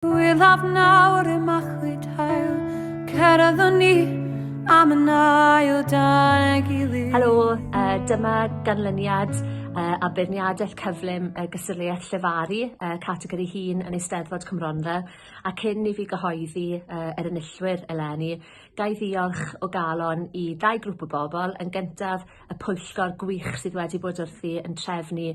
Gwyddaf nawr y machwyd hael, cerddwn ni am yn ail dan y gilydd. Helo, uh, dyma ganlyniad uh, a beirniadaeth cyflym y uh, gysylltiaeth llefaru uh, categori hun yn Eisteddfod Cymronfa a cyn i fi gyhoeddi uh, yr enillwyr eleni, gai ddiolch o galon i ddau grŵp o bobl, yn gyntaf y pwyllgor gwych sydd wedi bod wrthi yn trefnu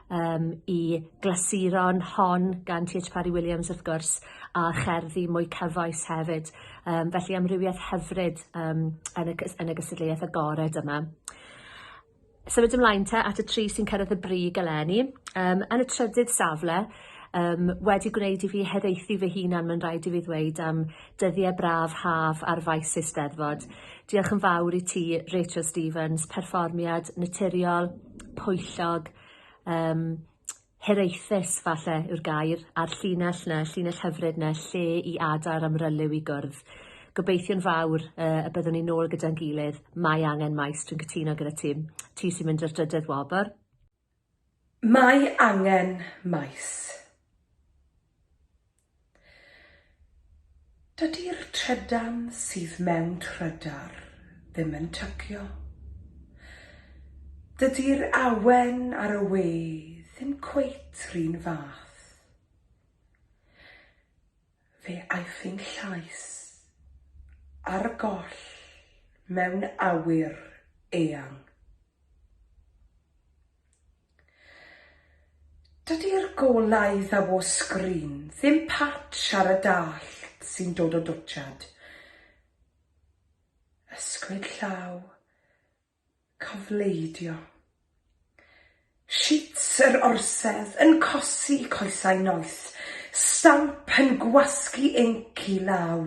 yym i glasuron hon gan Ti Heitch Parry Williams wrth gwrs a cherddi mwy cyfoes hefyd yym felly amrywieth hyfryd yym yn y cys- yn y gystadleuaeth agored yma. Symud ymlaen te at y tri sy'n cyrraedd y brig eleni yym yn y trydydd safle yym wedi gwneud i fi hiraethu fy hunan ma'n raid i fi ddweud am Dyddie braf haf ar faes Eisteddfod. Diolch yn fawr i ti Rachel Stevens, perfformiad naturiol, pwyllog, um, hiraethus falle yw'r gair, a'r llinell na, llinell hyfryd na, lle i adar am ryliw i gwrdd. Gobeithio'n fawr uh, y byddwn ni'n ôl gyda'n gilydd, mae angen maes, dwi'n cytuno gyda ti, ti sy'n mynd i'r drydydd wobr. Mae angen maes. Dydi'r trydan sydd mewn trydar ddim yn tygio. Dydi'r awen ar y we ddim cweit 'run fath. Fe aeth ein llais ar goll mewn awyr eang. Dydi'r golau ddaw o sgrin ddim patch ar y dallt sy'n dod o dwtsiad. Ysgwyd llaw Cofleidio. Shit yr orsedd yn cosi coesau noeth, stamp yn gwasgu inc i law.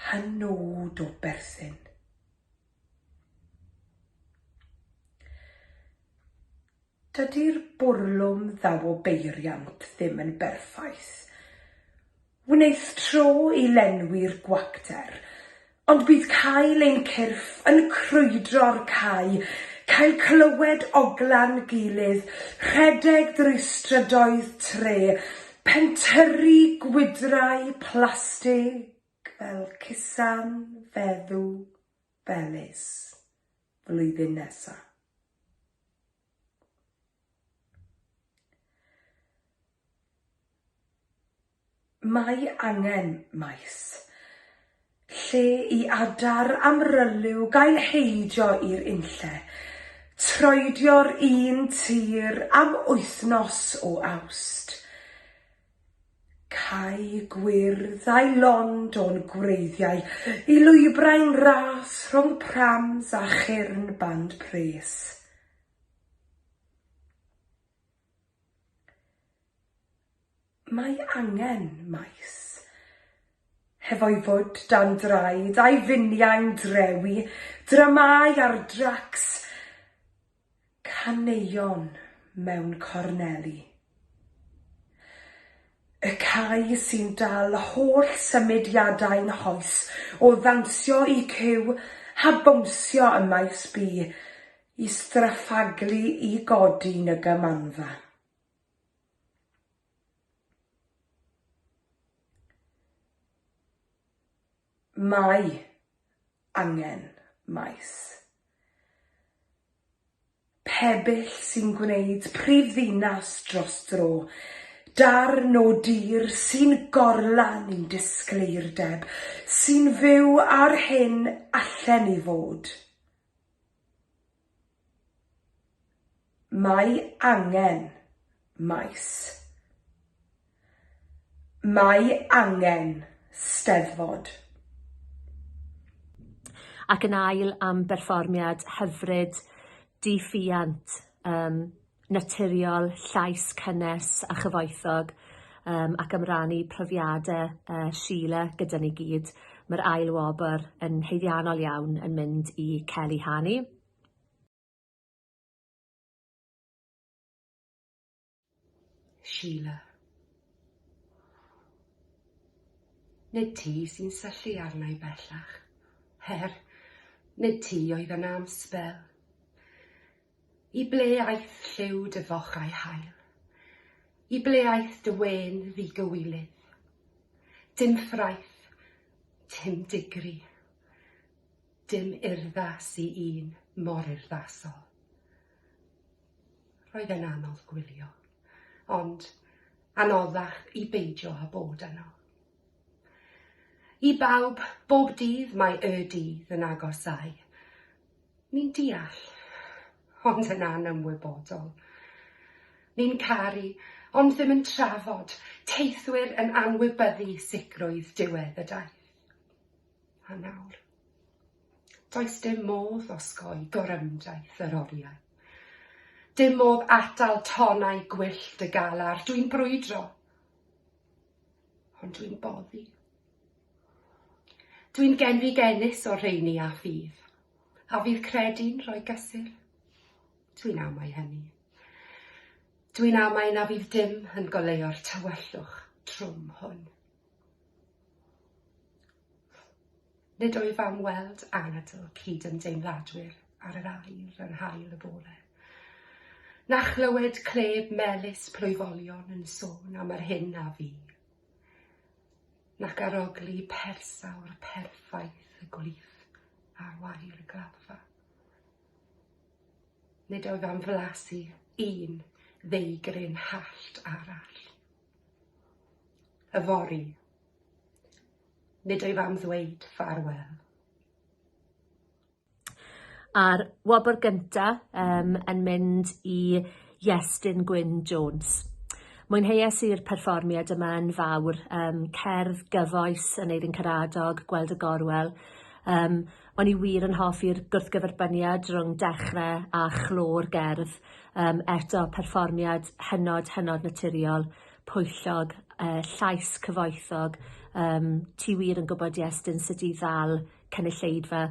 Hynod o berthyn. Dydy'r bwrlwm ddaw o beiriant ddim yn berffaith. Wneith tro i lenwi'r gwacter, ond bydd cael ein cyrff yn crwydro'r cae, cael clywed ogla'n gilydd, rhedeg drwy strydoedd Tre, pentyrru gwydrau plastig fel cusan feddw Belis flwyddyn nesa. Mae angen maes lle i adar amryliw gael heidio i'r unlle, troedio'r un tir am wythnos o Awst, Cae gwyrdd a'i lond o'n gwreiddiau i lwybrau'n ras rhwng prams a chyrn band pres. Mae angen maes. Hefo'i fwd dan draed a'i finiau'n drewi, dramâu ar dracs, Caneuon mewn corneli. Y cae sy'n dal holl symudiadau nghoes o ddawnsio i cyw a bownsio ym Maes B i straffaglu i godi yn y Gymanfa. Mae angen maes pebyll sy'n gwneud prif ddinas dros dro, darn o dir sy'n gorlan i'n disgleirdeb, sy'n fyw â'r hyn allen ni fod. Mae angen, maes. Mae angen, steddfod. Ac yn ail am berfformiad hyfryd, di-ffiant, yym naturiol, llais cynnes a chyfoethog um, ac am rannu profiadau uh, Sheila gyda ni gyd. Mae'r ail wobr yn heiddiannol iawn yn mynd i Kelly Hani. Sheila. Nid ti sy'n syllu arna i bellach. Her, nid ti oedd yna am spel. I ble aeth lliw dy fochau hael? I ble aeth dy wên ddigywilydd? Dim ffraeth, dim digri, dim urddas i un mor urddasol. Roedd e'n anodd gwylio, ond anoddach i beidio â bod yno. I bawb, bob dydd mae y dydd yn agosáu, Ni'n deall, ond yn anymwybodol. Ni'n caru, ond ddim yn trafod, teithwyr yn anwybyddu sicrwydd diwedd y daith. A nawr, does dim modd osgoi gorymdaith yr oriau. Dim modd atal tonnau gwyllt y galar, dwi'n brwydro. ond dwi'n boddi. Dwi'n genfi genus o'r rheini a ffydd, a fydd credu'n rhoi gysur. Dwi'n amau hynny. Dwi'n amau na fydd dim yn goleio'r tywyllwch trwm hwn. Nid wyf am weld anadl cyd-ymdeimladwyr ar yr ail yn hael y bore, na chlywed cleb melys plwyfolion yn sôn am yr hyn a fi, nac arogli persawr perffaith y gwlith ar wair y gladdfa. Nid oedd am flasu un ddeigryn hallt arall. Yfory, Nid wyf am ddweud ffarwel. A'r wobr gynta um, yn mynd i Iestyn Gwyn Jones. Mwynheuais i'r perfformiad yma yn fawr, um, cerdd gyfoes yn Eirin Caradog, Gweld y Gorwel. Um, o'n i wir yn hoffi'r gwrthgyferbyniad rhwng dechrau a chlo'r gerdd. Um, eto, perfformiad hynod, hynod naturiol. pwyllog yy llais cyfoethog yym ti wir yn gwbod Iestyn sut i ddal cynulleidfa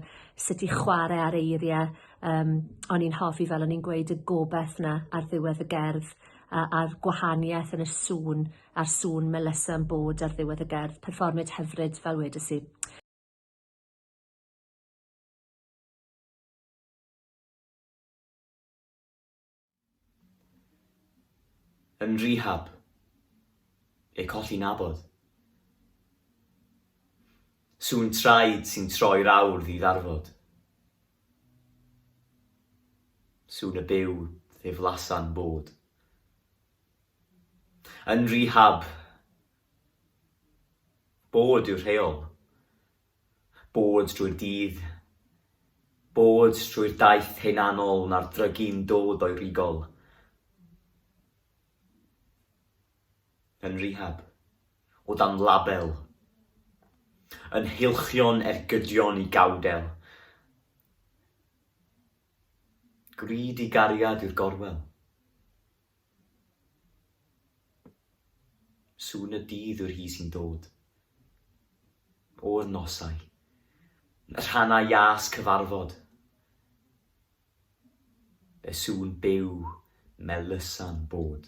sut i chware ar eirie yym o'n i'n hoffi fel o'n i'n gweud y gobeth 'na ar ddiwedd y gerdd a a'r gwahanieth yn y sŵn a'r sŵn Melissa yn bod ar ddiwedd y gerdd perfformiad hyfryd fel wedes i. Yn rehab. Eu colli nabod. Sŵn traed sy'n troi'r awr ddiddarfod. Sŵn y byw ddiflasan bod. Yn rehab. Bod yw'r rheol. Bod drwy'r dydd, bod drwy'r daith hunanol na'r drygi'n dod o'i rigol. Yn rehab. O dan label. Yn heilchion ergydion i gawdel. Greedy gariad yw'r gorwel. Sŵn y dydd yw'r hi sy'n dod. O'r nosau. Y rhannau iâs cyfarfod. Y sŵn byw melusa'n bod.